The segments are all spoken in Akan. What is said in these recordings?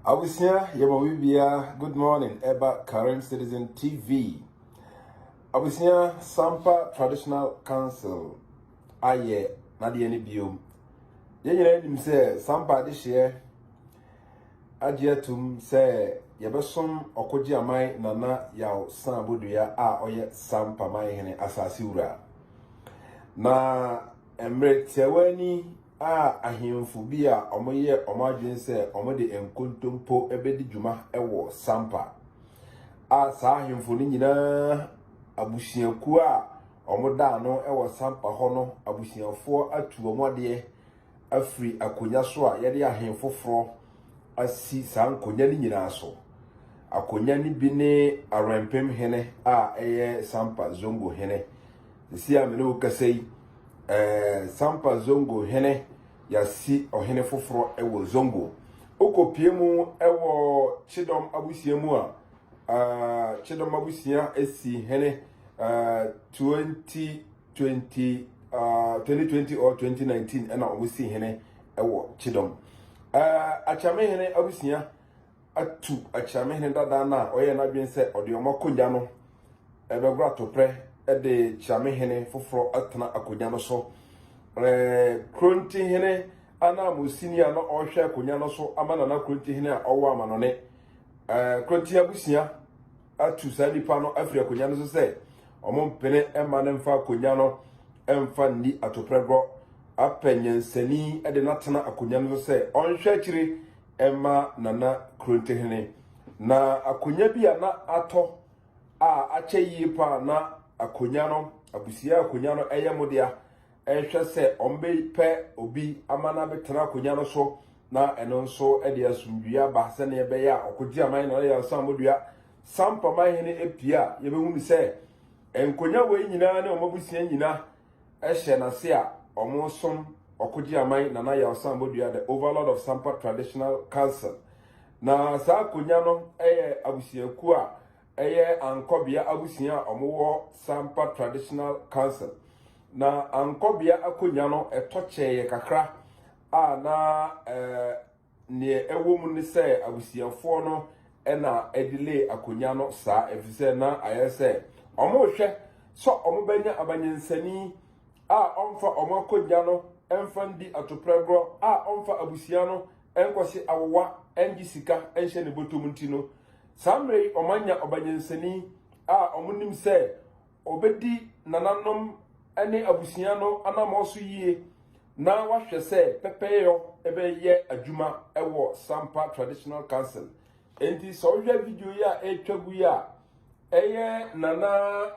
Abusua yɛma wo bia good morning ɛba Karim Citizen TV. Abusua Sampa Traditional Council ayɛ n'adeɛ no biom. Yɛn nyinaa nim sɛ Sampa adehyeɛ agye atum sɛ yɛbɛsom ɔkogye aman nana yaw san bodua a ɔyɛ Sampa man hene asase wura. Na mmerɛ tiawa ni a ahemfo bi a wɔyɛɛ wɔn adwene sɛ wɔde nkontompo bɛdi dwuma wɔ Sampa, a saa ahemfo no nyinaa abusuakuo a wɔda ano wɔ Sampa hɔ no abusuafoɔ atu wɔn adeɛ afiri akonnwa so a yɛde ahen foforɔ asi saa nkonnwa no nyinaa so. Akonnwa no bi ne Awɛmpem hene a ɛyɛ Sampa Zongo hene. Sisi a me ne wo kasa yi, Ɛɛ Sampa Zongo hene yɛasi ɔhene foforɔ wɔ Zongo. Wokɔpie mu wɔ Kyedɔm abusua mu a, ɛɛ Kyedɔm abusua si hene ɛɛ 2020 ɛɛ 2020 or 2019 ɛna wɔsi hene wɔ Kyedɔm. Ɛɛ Akyame hene abusua. atu akyira me hene dada no a ɔyɛɛ n'adwene sɛ ɔde wɔn akonnwa no bɛgoro atoprɛ de kyira me hene foforɔ atena akonnwa no so. Kronti hene ananmusini a na ɔrehwɛ akonnwa no so ama nana kronti hene a ɔwɔ amanɔne. Kronti abusua atu saa nipa no afiri akonnwa no so sɛ wɔn mpene mma no mfa akonnwa no mfa nni atoprɛ gorɔ. Apɛ nyansani de no atena akonnwa no so sɛ ɔnhwɛ akyire ma Nana Krontohene, na akonnwa bi a na atɔ a akyɛ yie paa na akonnwa no, abusua akonnwa no yɛ mo dea. Ɛhwɛ sɛ wɔbɛpɛ obi ama no abɛtena akonnwa no so na ɛno nso de asomdwoeɛ aba sɛdeɛ ɛbɛyɛ a ɔkɔgye aman Nana Yɛnsa Amodua Sampa Mahene apue a yɛbɛhunu sɛ nkonnwa wei nyinaa ne wɔn abusua nyinaa hyɛ n'ase a wɔresom Ɔkogyeaman Nana Yaw Sam Bodua, the Overlord of Sampa Traditional Council. Na saa akonya no yɛ abusuakuo a ɛyɛ Ankɔbea abusua a wɔwɔ Sampa Traditional Council. Na Ankɔbea akonya no ɛtɔ kyɛeɛ kakra a na ɛɛ. Nea ɛwɔ mu ne sɛ abusuafoɔ no na ɛdelay akonnwa no saa efisɛ na ayɛ sɛ wɔrehwɛ sɛ wɔbɛnya amanyansani a ɔmfa wɔn akonnwa no mfa ndi atoprɛgorɔ a ɔmfa abusua no nkɔhye awowa ngye sika nhyɛ ne bɔtɔm nti no. Saa mmerɛ yi wɔanya ɔbanyansani a wɔnim sɛ Ɔbɛdi nananom ne abusua no anammɔn so yie na wahwɛ sɛ pɛpɛyɔ bɛyɛ adwuma wɔ Sampa Traditional Council. Enti sɛ wohwɛ video yi a ɛretwa gu yi a, ɛyɛ Nana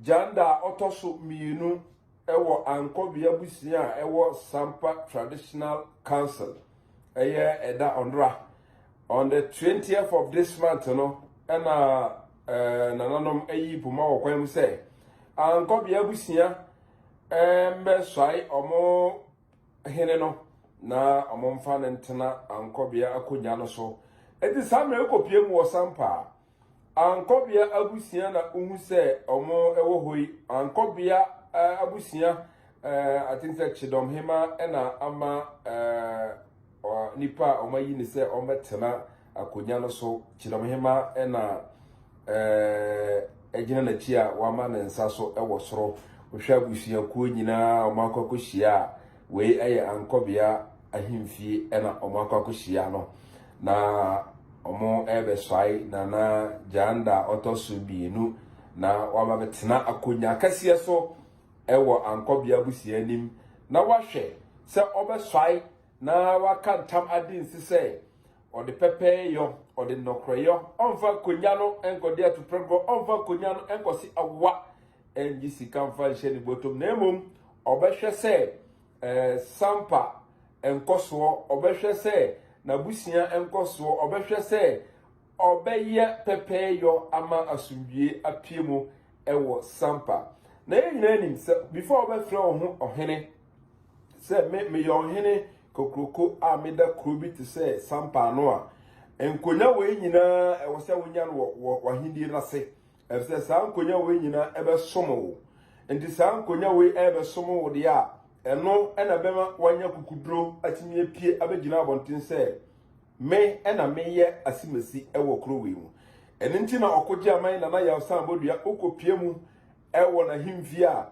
Janda a ɔtɔ so mmienu wɔ Ankɔbe abusua a ɛwɔ Sampa Traditional Council. Ɛyɛ ɛda ɔnora on the 20th of this month no ɛna Eh, nananom ayi poma wɔ kwan mu sɛ ankɔbea abusua eh, mbɛsɔe ɔmo hene no na ɔmo mfa no ntena ankɔbea akonnwa no so eti saa mmerɛ ekɔpie mu wɔ sampa ankɔbea abusua na wohu sɛ ɔmo ɛwɔ hɔ yi ankɔbea eh, abusua eh, I think sɛ kyedɔm hema ɛna ama eh, nipa a wɔayi ne sɛ wɔbɛtena Akonnwa no so, Kyidomhema na ɛɛɛ gyina n'akyi a wama ne nsa so wɔ soro. Wohwɛ abusuakuo nyinaa a wɔakɔ akɔhyia a, wei yɛ Ankɔbea ahemfie na wɔakɔ akɔhyia no. Na wɔrebɛsɔe Nana Gyanda a ɔtɔ so mmienu na waba bɛtena akonnwa akɛseɛ so wɔ Ankɔbea abusua anim na wahwɛ sɛ ɔbɛsɔe na waka ntam adi nse sɛ ɔde pɛpɛɛyɔ ɔde nnɔkorɛyɔ ɔmfa nkɔnya no nkɔde atuprɛgorɔ ɔmfa nkɔnya no nkɔse awa ɛngye sika mfa nhyɛ ne bɔtɔm na mmom ɔbɛhwɛ sɛ ɛɛ sampa nkɔsoɔ ɔbɛhwɛ sɛ n'abusua nkɔsoɔ ɔbɛhwɛ sɛ ɔbɛyɛ pɛpɛɛyɔ ama asomdwie apue mu ɛwɔ sampa na yɛn nyinaa nim sɛ before ɔbɛfrɛ wo ho ɔhene Sɛ me meyɛ ɔhene kokroko a meda kuro bi te sɛ sampa ano a, nkonya wei nyinaa ɛwɔ sɛ wonya no wɔ wɔ w'ahennie no ase, ɛfisɛ saa nkonya wei nyinaa ɛbɛsom wo. Nti saa nkonya wei ɛrebɛsom wo deɛ a, ɛno ɛna ɛbɛma woanya kukuduro atumi apue abɛgyina abɔnten sɛ me ɛna meyɛ asimasi ɛwɔ kuro wei mu. Ɛno nti na ɔkogye aman Nana Yaw San Bodua wokɔpue mu ɛwɔ n'ahemfie a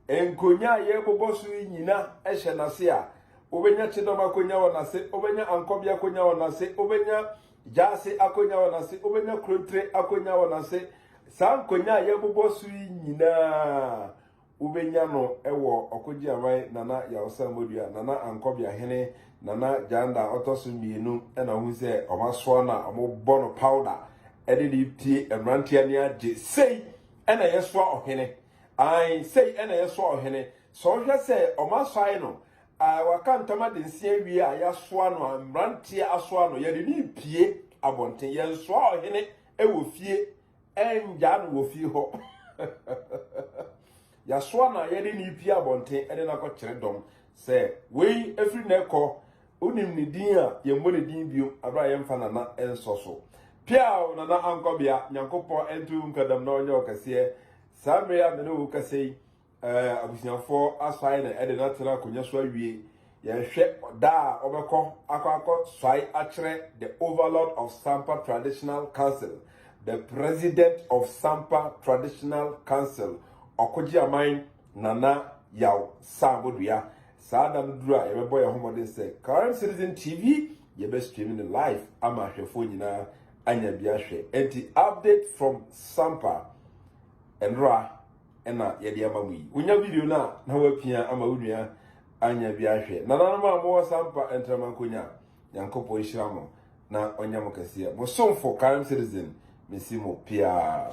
Nkonnwa a yɛrebobɔ so yi nyina hyɛ n'ase a, wobɛnya kyedɔm akonnwa wɔ n'ase, wobɛnya ankɔbea akonnwa wɔ n'ase, wobɛnya gyaase akonnwa wɔ n'ase, wobɛnya krontire akonnwa wɔ n'ase. Saa nkonnwa a yɛrebobɔ so yi nyina wobɛnya no wɔ Ɔkogyeaman Nana Yaosa Modua, Nana Ankɔbea Hene, Nana Gyanda a ɔtɔ so mmienu na wohu sɛ wɔasoa no a wɔbɔ no powder de ne tie mmeranteɛ ne agye. Sei na yɛsoa ɔhene. Ae, sei na ɛyɛ soa ɔhene. Sɛ ɔhwɛ sɛ wɔasae no, ae, wɔaka ntam ade nsia awie a, yɛasoa no, ae, mmeranteɛ asoa no, yɛde no repue abɔnten. Yɛnsoa ɔhene wɔ fie, ɛngyaa no wɔ fie hɔ. Yɛasoa no a, yɛde no repue abɔnten de no akɔkyerɛ dɔm sɛ, Wei, ɛfiri nnɛ rekɔ, Wonim ne din a, yɛmmɔ ne din bio bere a yɛmfa Nana nsɔ so. Peaw, Nana Ankwabea, Nyankopɔn nto wo nka dam na ɔnyɛ wo kɛseɛ. Saa mmere a me ne wo rekasa yi, eh, abusuafoɔ asɔae na ɛde no atena akonnwa so awie. Yɛnhwɛ da a wɔbɛkɔ akɔ akɔ sɔae akyerɛ the Overlord of Sampa Traditional Council, the President of Sampa Traditional Council, Ɔkogyeaman Nana Yaw Saabodua. Saa da no duru a, yɛbɛbɔ yɛn ho mmɔden sɛ Current Citizen TV, yɛbɛstream no live ama ahwɛfoɔ nyinaa anya bi ahwɛ. Enti update from Sampa, nnora na yɛde ama mu yi. Wonya video no a, na woapia ama wo nua anya bi ahwɛ. Nananom a mowɔ Sampa Ntramankonya, Nyankopɔn nhyira mo na ɔnyɛ mo kɛseɛ. Mo somfo Current Citizen, mesi mo piaa.